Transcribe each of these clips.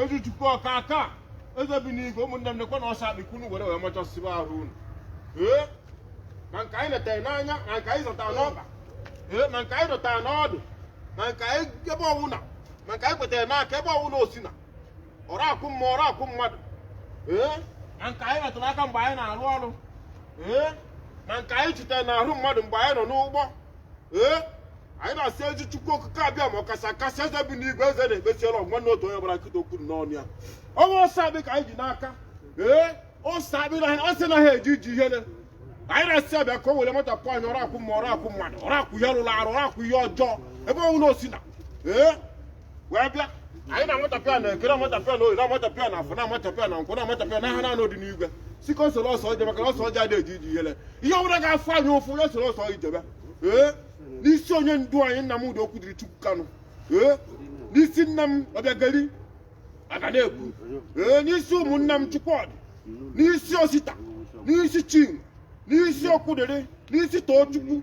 ezi chukwu ọka aka eze bi n'igwe ụmụnne m nekwe na ose akpị ka unu were wee machasiba ahụ unu ee ma nke anyị letara n'anya ma nke anyị zọtara n'ọkpa ee ma nke anyị dọtara n'ọdụ ma nke anyị ebe ọwụna ma nke anyị kwetara n'aka ebe ọwụna o sina ọrụ akwụ mma ọrụ akwụ mmadụ ee ma nke anyị metụrụ aka mgbe anyị na-arụ ọrụ ee ma nke anyị chitere n'ahụ mmadụ mgbe anyị nọ n'ụgbọ ee anyị na-asị ezi chukwu okike abịama ọkasị akasị eze bi n'igwe eze na-ekpesiela ọgwa na otu onye ọbụla nkịta okwu dị n'ọnụ ya ọ wụ ose akpị ka anyị ji n'aka ee ose akpị na ose anaghị eje ije ihele anyị na-asị ya bịa ka o were matapụ anyị ọrụ akwụ mma ọrụ akwụ mmadụ ọrụ akwụ ihe rụrụ arụ ọrụ akwụ ihe ọjọọ ebe ọwụna o sina ee wee bịa anyị na-amatapụ ya na eke na-amatapụ ya na oye na-amatapụ ya na afọ na-amatapụ ya na nkwọ na-amatapụ ya na ahịa na anọ dị n'igwe sị ka o soro ose jee maka na ose ọjị adịghị eje ije ihele ihe ọ bụla ga-afụ anyị ụfụ ya soro ose jebe ee n'isi onye ndu anyị nnamdi okwudịrịchukwu kanu ee n'isi nna m obiageri aganekwu ee n'isi ụmụnna m chukwudị n'isi osita n'isi chinwe n'isi okwudịrị n'isi tochukwu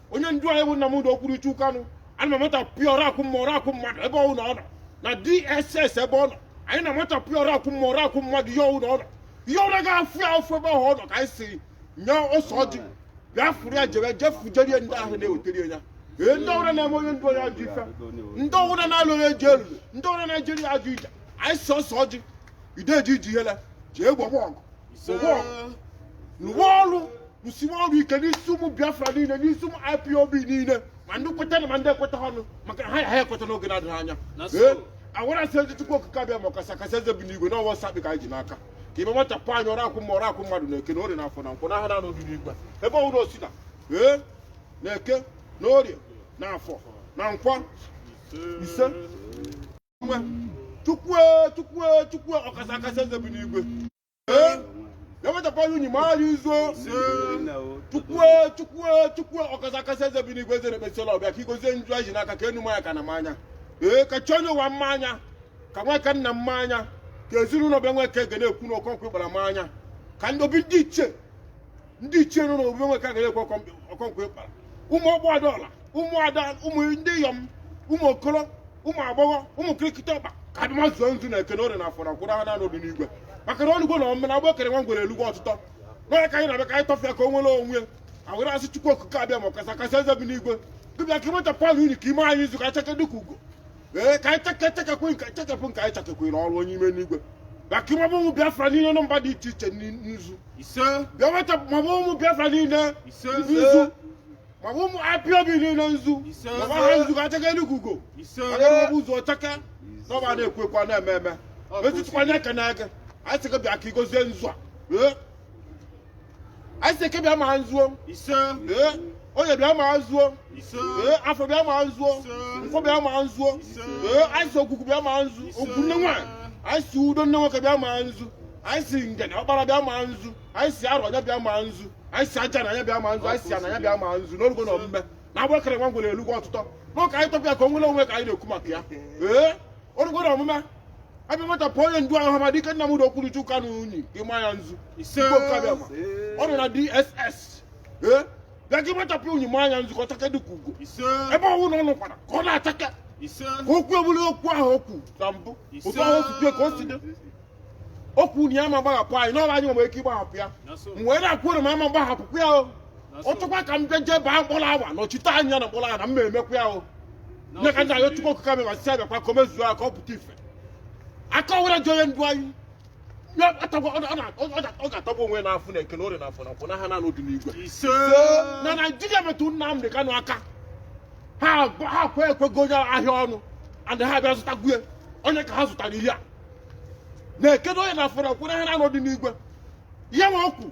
onye ndu anyị bụ Nnamdi Okwuruchukwu Kanu ana m amachapụ ya ọrụ akwụ mma ọrụ akwụ mmadụ ebe ọwụ na ọ nọ na DSS ebe ọ nọ anyị na-amachapụ ya ọrụ akwụ mma ọrụ akwụ mmadụ ihe ọwụ na ọ nọ ihe ọ wụ ga-afụ ya ụfụ ebe ahụ ọ nọ ka anyị sị nye ose ọjị bịa fụrụ ya jebe jefujerie ndị ahụ na-ewetara ya ee ndị ọrụ na-eme onye ndu anyị ajọ ife ndị ọrụ na-alụ onye ji elulu ndị ọrụ na-ejere ya ajọ ije anyị sị ose ọjị adịghị eje ije ihele jee gbagba ọgụ gbagba ọgụ rụwa ọrụ rụsiwa ọrụ ike n'isi ụmụ biafra niile n'isi ụmụ ipob niile ma ndị kweta na ma ndị ekweta ọnụ maka ha ga-ekweta n'oge na-adịghị anya ee e were sị ezi chukwu okike abịama ọkasị akasị eze bi n'igwe na ọ wụ ose akpị ka anyị ji n'aka ka i were matapụ anyị ọrụ akwụ mma ọrụ akwụ mmadụ na eke na orie na afọ na nkwọ n'ahịa na anọ bi n'igwe ebe ọwụna o sina ee na eke na orie na afọ na nkwọ ise nwe chukwu chukwu chukwu ọkasị akasị eze bi n'igwe Ee, ya wetapụrụ unyi ma ara izo chukwu chukwu chukwu ọkasị akasị eze bi n'igwe eze na-ekpesịla o bie ka i gozie nzu anyị ji n'aka ka enu maa ya ka ana maa ya ee ka chi onye ụwa maa ya ka nweke nna maa ya ka ezinụlọ be nweke aganekwu na okonkwo ịgbara maa ya ka ndị obi ndị ichie ndị ichie nọ n'obu be nweke aganekwu okonkwo ịgbara ụmụ ọgbọ ada ọra ụmụ ada ụmụ ndịyọm ụmụ okoro ụmụ agbọghọ ụmụ kirikiti ọkpa ka ha bịa mazuo nzu na eke na orie na afọ na nkwọ ahịa na anọ bi n'igwe maka na ọnụgwo na ọmụme na agba okere nwa ngwere elugbo ọtụtọ n'ọya ka anyị na-abịa ka anyị tọfịa ka o nwere onwe e were sị chukwu okike abịama ọkasị akasị eze bi n'igwe dịbịa ka ịmụta palụ unu ka ime anyị izu ka chaka dịka ugo ee ka anyị chekechekekwe nke chekepụ nke anyị chekekwere ọrụ onye ime n'igwe bịa ka ị maba ụmụ biafra niile nọ mba dị iche iche n'i- nzu ise bịa weta maba ụmụ biafra niile Ise. nzu maba ụmụ ipob niile nzu Ise. maba ha nzu ka cheke eluigwe ugo ise agara ọbụ ụzọ cheke n'ọba na-ekwu ekwu a na-eme eme Ọ bụ etutukwa anya eke na eke anyị sị gị bịa ka ị gozie nzu a ee anyị sị eke bịa ma nzu o ise ee oye bịa ma nzu o ise ee afọ bịa ma nzu o nkwọ bịa ma nzu o ee anyị sị ogwugwu bịa ma nzu ogwugwu nne nwaanyị anyị sị udo nne nwoke bịa ma nzu anyị sị ngene ọkpara bịa ma nzu anyị sị arọ anyị bịa ma nzu anyị sị ajana anyị bịa ma nzu anyị sị ana anyị bịa ma nzu na o rugo na omume na agbụ e kere nwa ngwere elugo ọtụtọ na ka anyị tọpụ ya ka o nwere onwe ka anyị na-ekwu maka ya ee o rugo na omume a bịa machapụ onye ndu Ọhamadike Nnamdi Okwuluchi Kanu unyi ị ma ya nzu ise Chukwu okike abịama. ọ nọ na DSS ee bịa ka ị machapụ unyi ma ya nzu ka ọ chake dịka ugo ise ebe ọwụna ọ nọkwara ka ọ na-achake ise ka okwu ebulu okwu ahụ okwu na mbụ Ise. otu ahụ si dị ka o si dị okwu na ya ama gbaghapụ anyị n'ọrụ anyị nwere ike ịgbaghapụ ya na so m wee na-akwụ ụrụ ma ama mgbahapụkwa ya o ọtụkwa ka m bịa jee baa mkpọrọ awa nọchite anya na mkpọrọ awa na m na-emekwa ya o nye ka ndị anyị chukwu okike abịama si abịakwa ka o mezuo ya ka ọ pụta ife aka ọwụla ji onye ndu anyị Ya atagwa- ọ na- ọ na- ọ na- ọ ga-atagbu onwe ya n'afụfụ na eke na orie n'afọ na nkwọ n'aha nna ọdịnigwe ise na naijiria metụ nnamdị kanụ aka ha gba- ha kwe ekwego onye ahịa ọnụ and ha bịa zụta gwue onye ka ha zụtara ihe na eke na orie na afọ na nkwọ n'aha nna ọdịnigwe ihe nwa okwu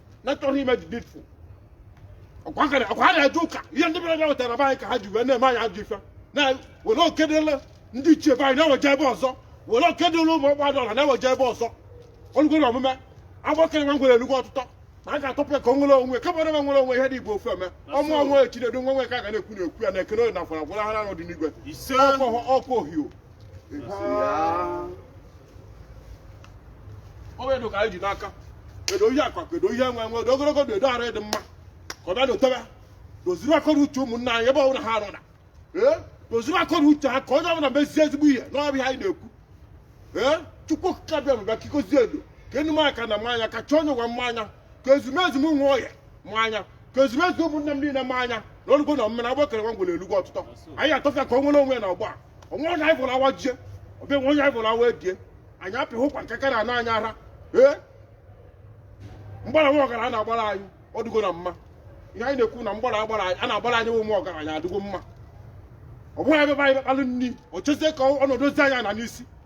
na-achọghị ime dị bitfu ọkwa nkara ọkwa ha na-eje ụka ihe ndị bịara wetara be anyị ka ha ji wee na-eme anyị ajọ ife na were okedele ndị ichie be anyị na-eweje ebe ọzọ were okedele ụmụ ọgba dọla na-eweje ebe ọzọ o lugo na omume agbụ e kere nwa ngwere elugo ọtụtọ na a ga-atọpụ ya ka o nwere onwe kama na nwere onwe ihe dị igbo ofe eme ọmụ onwe ya chinedu nwa nwe ka a ga na-ekwu na-ekwu ya na eke na oye na afọ na nkwọ n'aha nna ọdịnigwe ise ọkwa ohio Ise ya. ọ bụ edo ka anyị ji n'aka edo ihe akụ akụ edo ihe enwe enwe edo ogologo ndụ edo arụ ịdị mma ka ọ bịa dotebe doziri akọ na uche ụmụnna anyị ebe ọbụla ha nọ na ee doziri akọ na uche ha ka onye ọbụla mezie ezigbo ihe n'ọ bụ ya anyị na-ekwu ee chukwu okike abịama bịa ka ị gozie edo ka enu m aka na maa ya ka chi onye ụwa maa ya ka ezumezu m nwe ọhịa maa ya ka ezumezu ụmụnne m niile maa ya na o lugo na omume agbụ e kere nwa ngwere elugo ọtụtọ anyị atọfụ ya ka o nwere onwe ya na ọgba a onwe onye anyị fụrụ awa jie ọbịa nwe onye anyị fụrụ awa ebie anyị apịghị ụkwa nke karịa na anyị ara ee mgbara nwa ọgaranya na-agbara anyị ọ dịgo na mma ihe anyị na-ekwu na mgbara agbara anyị a na-agbara anyị ụmụ ọgaranya adịgo mma ọ bụghị ebe anyị kpalụ nri o chezie ka ọnọdụ ozi anyị na n'isi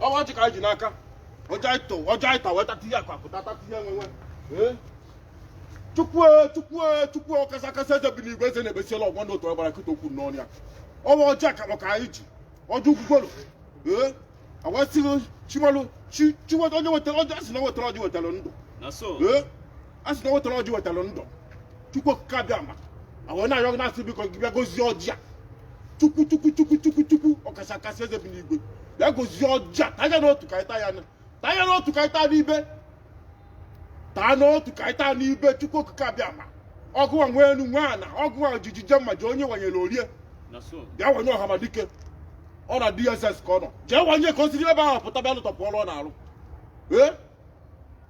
ọ wụ ọjị ka anyị ji n'aka ọjị anyị tọ ọjị anyị ta wee tata ihe akụ akụ tata ihe enwe enwe ee chukwu e, chukwu e, chukwu ọkasị akasị eze bi n'igwe eze na-ebesiela ọgwọ ndị otu ọgbara kịta okwu n'ọnụ ya ọ wụ ọjị akakpọ ka anyị ji ọjị ukwukwelu ee awasịghị chimalụ chi chi weta onye wetara ọjị a sị na o wetara ọjị wetara ndụ na so ee a sị na o wetara ọjị wetara ndụ chukwu okike abịama a wee na-arịọ gị na-asị biko gị bịa gozie ọjị a chukwu chukwu chukwu chukwu chukwu ọkasị akasị eze bi n'igwe bịa gozie ọjị a taa ya n'otu ka anyị taa ya na taa ya n'otu ka anyị taa n'ibe taa n'otu ka anyị taa n'ibe chukwu okike abịama ọ gịnwa nwe enu nwe ana ọgụwa ojiji je mma ji onye wanyere orie na so bịa wanye ọhamadike ọ na dss ka ọ nọ jee wanye ka o si n'ebe ahụ pụta bịa lụtọpụ ọrụ ọ na-arụ ee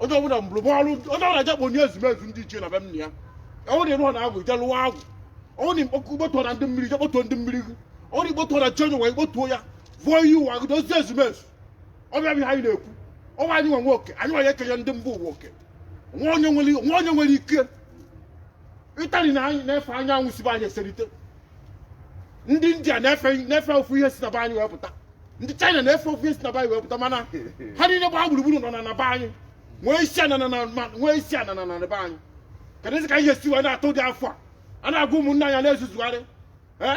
onye ọbụla mụrụ bụ ọrụ onye ọbụla je kpọ onye ezumezu ndị ichie na be nna ya ọ wụ na ịnụọ na agwụ je lụwa agwụ ọ wụ na ikpọkụ ikpọtụọ na ndị mmiri je kpọtụọ ndị mmiri gị ọ wụ na ikpọtụọ na chenye ụwa ikpọtụọ ya vụọ ihe ụwa gị dozie ezumezu ọ bịa bụ ihe anyị na-ekwu ọ wụ anyị nwa nwe oke anyị nwa ya ekenye ndị mba ụwa oke nwa onye nwere nwa onye nwere ike italy na anyị na-efe anyanwụ si be anyị eserite ndị india na-efe ofu ihe si na be anyị wee pụta ndị china na-efe ofu ihe si na be anyị wee pụta mana ha niile gbaa gburugburu nọ na na be anyị nwee isi anana na ma nwee isi anana na be anyị keduzi ka ihe si wee na-atụ dị afọ a a na-agwa ụmụnne anyị a na-ezuzugharị ee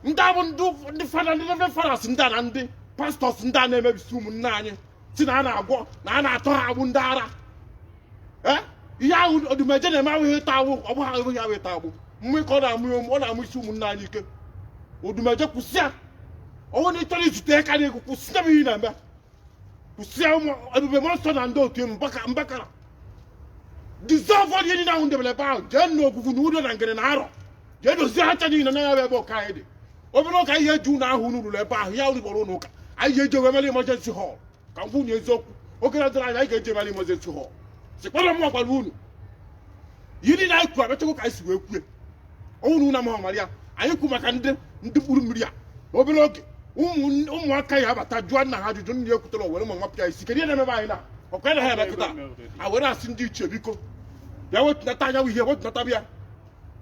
ndị a bụ ndị fada ndị reverend fathers ndị a na ndị pastors ndị a na-emebisi ụmụnne anyị si na a na-agwọ na a na-atọ ha agbụ ndị ara Eh? ihe ahụ odumeje na-eme awụghị ịtọ agbụ ọ bụghị awụghị ya bụ ịtọ agbụ mmụ ka ọ na-amụ ya ụmụ- ọ na-amụ isi ụmụnna anyị ike odumeje kwụsị ya ọ wụ na ị chọrọ izute ya karịa egwu kwụsị ya bụ ihe ị na-eme kwụsị ya ụmụ ebube mmụọ nsọ na ndị otu mbaka mbakara dissolvụọ ihe niile ahụ unu debere ebe ahụ jee nụ ogwugwu na udo na ngene na arọ jee dozie ha ncha niile na ya bụ ebe ụka anyị dị obere oge ihe eji ụlọ ahụ unu rụrụ ebe ahụ ya unu kpọrọ ụlọ ụka anyị ji eje wee mere emergency hall ka m kwunye eziokwu oge na-adịrọ anya anyị ga-eje wee mere emergency hall sikpọrọ m gwara unu ihe niile anyị kwuru abịachakwa ka anyị si wee kwue ọ wụ na unu amaghị mara ya anyị kwu maka ndị ndị mkpụrụ mmiri a na obere oge ụmụ- ụmụaka ya abata jụọ nna ha ajụjụ nna ya ekwutara were mma wapụ ya isi kedu ihe na-emebe anyị na ọkwa na ha emekọta a were asị ndị ichie biko bịa wetunata anyanwụ ihe wetunata bịa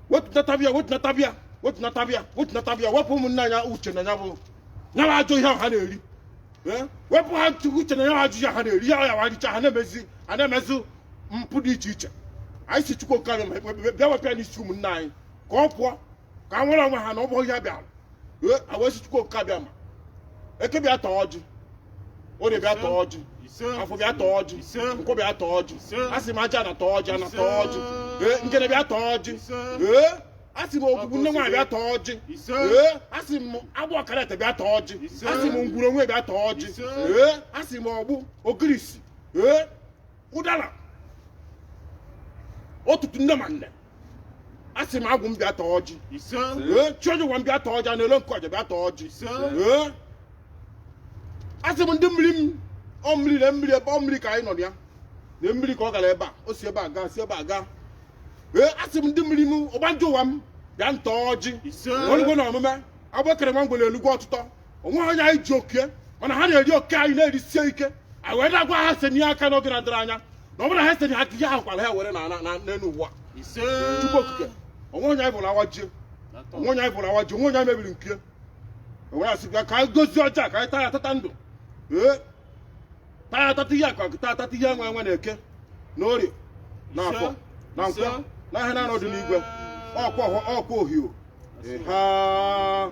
wetunata bịa wetunata bịa wetunata bịa wetunata bịa wepụ ụmụnne anyị uche na ya bụ ya bụ ajọ ihe ahụ ha na-eri Eh? wepụ ha ntụ uche na ya bụ ajọ ihe ha na-eri ya ya wa richa ha na-emezi ha na-emezi mpụ dị iche iche anyị si chukwu nke anyị bịa wepụ ya n'isi ụmụnne anyị ka ọ pụọ ka ha nwere onwe ha na ọ bụghị ihe ha bịara a wee sị chukwu okike abịama eke bịa taa ọjị orie bịa taa ọjị afọ bịa taa ọjị nkwọ bịa taa ọjị asị m aja ana taa ọjị ana taa ọjị ee ngene bịa taa ọjị ee asị m ogwugwu nne nwaanyị bịa taa ọjị ee asị m agwụ ọkarata bịa taa ọjị asị m ngwuru onwe bịa taa ọjị ee asị m ọgbụ ogirisi ee ụdara ọtụtụ nne ma nne asị m agwụ m bịa taa ọjị ise ee chi oji ụwa m bịa taa ọjị a na-ele nke ọja bịa taa ọjị ise ee asị m ndị mmiri m ọ mmiri na mmiri ebe ọ mmiri ka anyị nọ na ya na mmiri ka ọ gara ebe a o si ebe a gaa si ebe a gaa ee asị m ndị mmiri m ọgbanje ụwa m bịanụ taa ọjị ise o lugo na omume agbụ e kere nwa ngwere elugo ọtụtọ onweghị onye anyị ji oke ya mana ha na-eri oke anyị na-erisie ike anyị wee na-agwa ha senye aka n'oge na-adịrị anya na ọ bụrụ na ha senye aka ihe ahụ kwara ha were na- na- na- n'elu ụwa ise Chukwu okike onwe onye anyị bụrụ awajie onwe onye anyị bụrụ awajie onwe onye anyị mebiri nke were asị bịa ka anyị gọzie ọjị a ka anyị taa ya tata ndụ ee taa ya tata ihe akụ akụ taa tata ihe enwe enwe na eke na orie na afọ na nkwọ Ise. na ahịa na anọ dị n'igwe ọkwa ọhụ- ọkwa ohio ha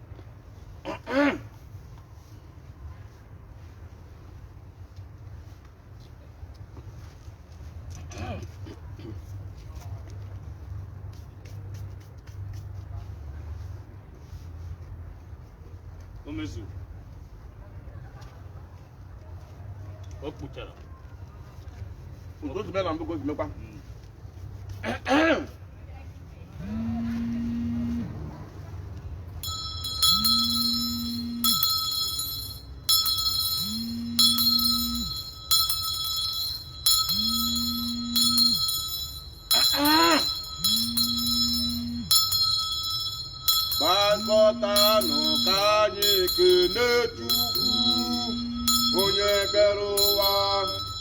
o mezuru o kpuchara Ozugbo na mbụ ka o ji mekwa. gbakọtanụ ka anyị kelee Chukwu onye kere ụwa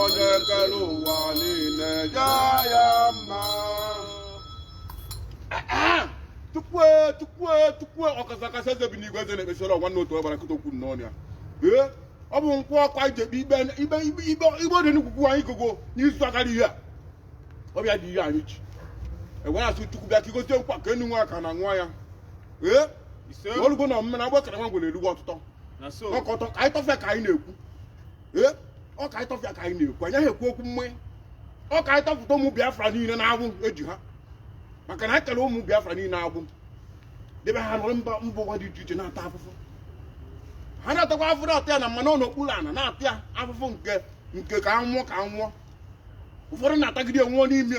onye kere ụwa niile ya ya mma tupu tupu tupu ọkasị akasị eze bi n'igwe eze na-ekpesịrị ọgwa nna otu ọbara kụta okwu nnọọ ya ee ọ bụ nkwụ ọkwa ije kpe ikpe ikpe ikpe ikpe igbe dị n'ugwugwu anyị gogo n'izu agara ihe a ọbịa dị ihe anyị ji ewere asị chukwu bịa ka ị gọzie nkwa ka enu nwa aka na nwa ya ee ise o lugo na omume na agbụ e kere nwa ngwere elugo ọtụtọ na so ọkọtọ ka anyị tọfụ ya ka anyị na-ekwu ee ọ ka anyị tọfụ ya ka anyị na-ekwu anyị ekwu okwu mee ya ọ ka anyị tọfụta ụmụ biafra niile n'agbụ e ji ha maka na e kere ụmụ biafra niile agbụ debe ha nọrọ mba mba ụwa dị iche iche na-ata afụfụ ha na-atakwa afụfụ na-ata ya na mmanụ n'okpuru ana na-ata ya afụfụ nke nke ka anwụọ ka anwụọ ụfọdụ na-atagide nwụọ n'ime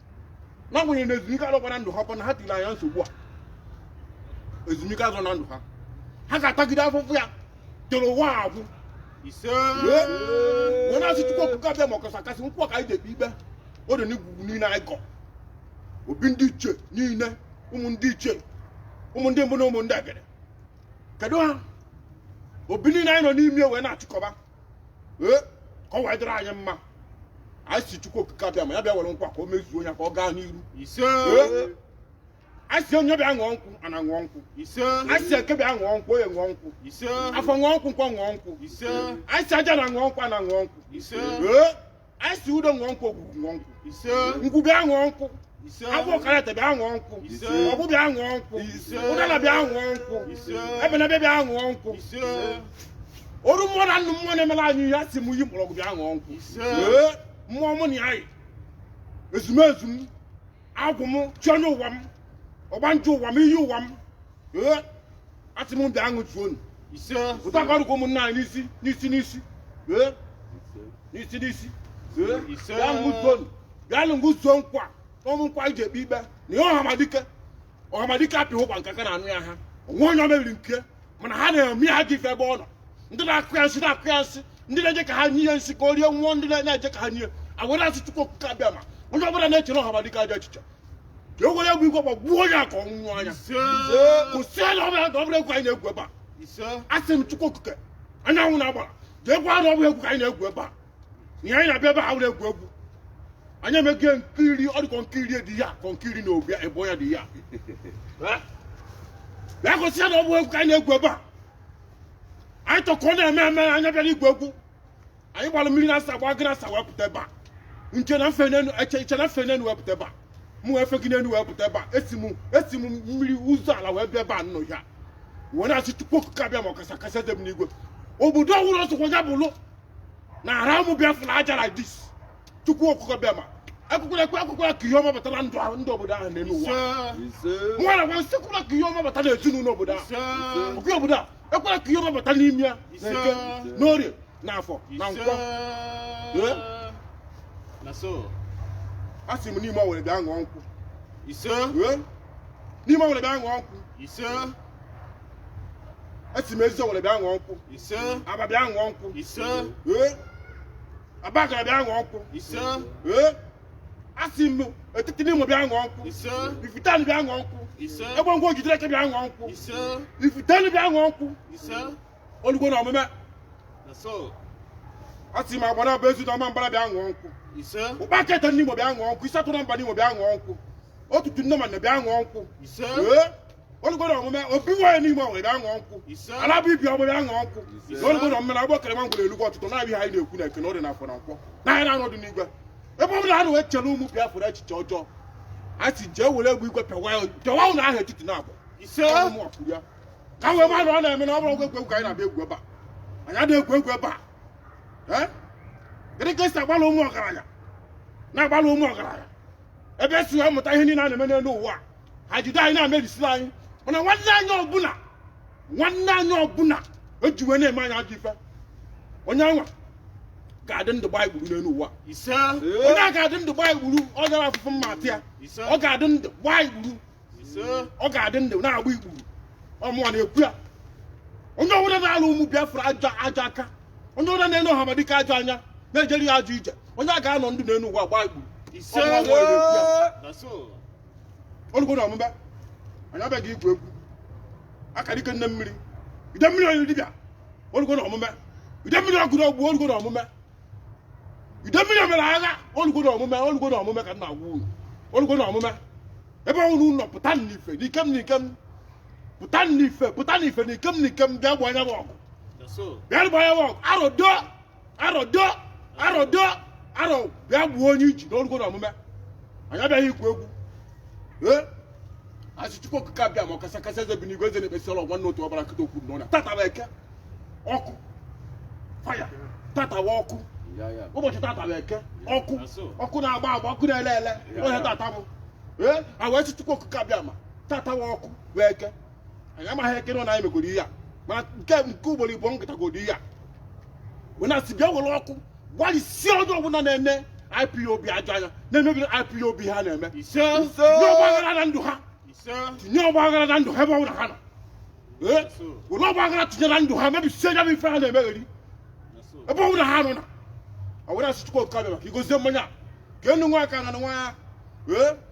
n'agbanyeghị na ezumike adịkwa na ndụ ha kwa na ha tiri anya nsogbu a ezumike azọ na ndụ ha ha ga-atagide afụfụ ya toro ụwa agwụ wee na-asị chukwu okike abiama ọkasa kasị nkwụ ka anyị ji ekpe ikpe o dị n'igwugwu niile anyị kọ obi ndị ichie niile ụmụ ndị ichie ụmụ ndị mbụ na ụmụ ndị egede kedu ha obi niile anyị nọ n'ime wee na-achịkọba ee ka ọ wee dịrị anyị mma anyị sị chukwu okike abiama ya bịa were nkwa ka o mezuo ya ka ọ gaa n'iru ise Ee. anyị sị igwe bịa ṅụọ nkwụ ana ṅụọ nkwụ ise anyị sị eke bịa ṅụọ nkwụ oye ṅụọ nkwụ ise afọ ṅụọ nkwụ nkwọ ṅụọ nkwụ ise anyị sị aja ana ṅụọ nkwụ ana ṅụọ nkwụ ise ee anyị sị udo ṅụọ nkwụ ogwugwu ṅụọ nkwụ ise ngwu bịa ṅụọ nkwụ ise agwụ ọkarata bịa ṅụọ nkwụ Ise. ọgbụ bịa ṅụọ nkwụ Ise. ụdala bịa ṅụọ nkwụ Ise. ebenebe bịa ṅụọ nkwụ ise oru mmụọ na nnụ mmụọ na-emela anyị ihe asị m iyi mgbọrọgwụ bịa ṅụọ nkwụ Ise. Ee, mmụọ mụ na ya yi ezumezu m agwụ m chi onye ụwa m ọgbanje ụwa m iyi ụwa m ee asị m bịa ṅụzuonụ ise ụta ka ọrụkwa ụmụnna anyị n'isi n'isi n'isi ee n'isi n'isi ee Ise. bịa ṅụzuonụ bịa ṅụzuo nkwụ a bụ nkwụ e ji ekpe ikpe na ihe ọhamadike ọhamadike apịghị ụkwa nke aka na anụ ya ha o nwe onye o mebiri nke mana ha na-eme ha gị ife ebe ọ nọ ndị na-akụ ya nsị na-akụ ya nsị ndị na-eje ka ha nye ya nsị ka o rie nwụọ ndị na-eje ka ha nye agwere asị chukwu okike abiama onye ọbụla na-echere ọhamadike ajọ echiche ka e were egbe igwe gbagbuo onye a ka ọ nwụọ anya kwụsịela ọbụla na ọ bụrọ egwu anyị na-egwu ebe a asị m chukwu okike anyanwụ na agbara jee gwa ha na ọ bụrọ egwu ka anyị na-egwu ebe a ihe anyị na-abịa ebe a were egwu egwu anyị emeghị nkiri ọ dị ka nkiri dị ya ka nkiri na obi ebe ya dị ya Eh? bịa gosi ya na ọ bụ egwu ka anyị na-egwu ebe a anyị tọkọ na-eme eme anyị abịara igwu egwu anyị gbara mmiri na-asa gba gị na-asa wee pụta ebe a nche na mfe n'enu eche iche na mfe n'enu wee pụta ebe a mụ wee fe gị n'enu wee pụta ebe a esi m esi m mmiri ụzọ ala wee bịa ebe a nnọ ya wee na-asị chukwu okike abiama ọkasa kasị eze m n'igwe obodo ọhụrụ ọsọkwa ya bụlụ na ara ụmụ biafra aja like this chukwu okike abiama akwụkwọ ekwe akwụkwọ ka ihe ọma bata na ndụ ha ndị obodo ahụ n'elu ụwa nwa na nwa m sị ekwela ka ihe ọma bata n'ezinụlọ obodo ahụ okwu obodo a ekwela ka ihe ọma bata n'ime ya na eke n'orie na afọ na nkwọ Ee? na so a sị m n'ime ọwere bịa ṅụọ nkwụ ise Ee? n'ime ọwere bịa ṅụọ nkwụ ise asị m eziowelle bịa ṅụọ nkwụ ise abba bịa ṅụọ nkwụ ise ee abagana bịa ṅụọ nkwụ ise ee asị m etiti nimo bịa ṅụọ nkwụ ise ifiteani bịa ṅụọ nkwụ ise egbengwu ogidere eke bịa ṅụọ nkwụ ise ifitenu bịa ṅụọ nkwụ ise o lugo na omume asị m agbanabọ ezu na ọmambala bịa ṅụọ nkwụ ise ụkpaka ete nimo bịa ṅụọ nkwụ ise atụrụ mba nimo bịa ṅụọ nkwụ otutu nne ma nne bịa ṅụọ nkwụ ise ee o lugo n'omume obi nwaanyị n'ime ọnwa bịa ṅụọ nkwụ alabụ ibi ọmụme aṅụ nkwụ na o lugo n'omume na-agba kere ma ngwere elugwu ọtụtụ na-abịa anyị na-ekwu na eke na orie na afọ na nkwọ na anyanwụ dị n'igwe ebe ọbụla a na-wee chere ụmụ Biafra echiche ọjọọ a sị jee were egbe igwe pịawa ya- pịawa ụlọ ahụ etiti na abụọ Ọ bụ mụwa kwuru ya. ka wee ma na ọ na-eme na ọ bụrọ egwuregwu ka anyị na-abịa egwu ebe a anyị adịghị egwu egwu ebe a Ee? gịnị ka esi agbalụ ụmụ ọgaranya na-agbalụ ụmụ ọgaranya ebe esi wee mụta ihe niile a na-eme n'elu ụwa a ha jide anyị na-emebisila anyị mana nwanne anyị ọbụla nwanne anyị ọbụla eji wee na-eme anyị ajọ ife onye anwa ga-adị ndụ gbaa ikpuru n'elu ụwa ise onye a ga-adị ndụ gbaa ikpuru ọ gara afụfụ mma atị ya ise ọ ga-adị ndụ gbaa ikpuru ise ọ ga-adị ndụ na-agba ikpuru ọ mụwa na-ekwu ya onye ọbụla na-alụ ụmụ biafra ajọ ajọ aka onye ọbụla na-ene ọhamadike ajọ anya na-ejeri ya ajọ ije onye a ga-anọ ndụ n'elu ụwa gbaa ikpuru ise Ọ mụwa na-ekwu ya. na so o lugo na omume anyị abịaghị igwu egwu akara ike nne mmiri ide mmiri onye dibịa o lugo na omume ide mmiri ọgụrụ ọgwụ o lugo na omume ide mmiri omere agha o lugo na omume o lugo na omume ka m na-agwa unu o lugo na omume ebe unu nọ pụta n'ife n'ikem n'ikem pụta n'ife pụta n'ife n'ikem n'ikem bịa gbaa anya bụ ọgụ bịa gbaa anya bụ ọgụ arodo arọ do arọ do arọ bịa gbuo onye iji na o rugo na omume anyị abịaghị igwu egwu ee asị chukwu okike abịama ọkasị akasị eze bi n'igwe eze na-ekpesi ọlọ nwanne otu ọbara nkịta okwu n'ọnya tata bụ eke ọkụ fire tata bụ ọkụ Ya ya. ụbọchị tata bụ eke ọkụ Aso. ọkụ na-agba agba ọkụ na-ele ele ụbọchị tata bụ ee a wee sị chukwu okike abịama tata bụ ọkụ bụ eke anyị amaghị ekere na anyị megoro ihe a mana nke nke ugboro ịbụọ nkịtagoro ihe a wee na-asị bịa were ọkụ gbalịsie onye ọbụla na-eme ipob ajọ anya na-emebiri ipob ha na-eme ise tinye ọgbaghara na ndụ ha ise tinye ọgbaghara na ndụ ha ebe ọbụla ha nọ ee were ọgbaghara tinye na ndụ ha mebisie ya bụ ife ha na-emegheri ebe ọbụla ha nọ na a wee na-asị chukwu okike abịama ka i gozie mmanya a. ka enu ṅụa ka ana ṅụa ya ee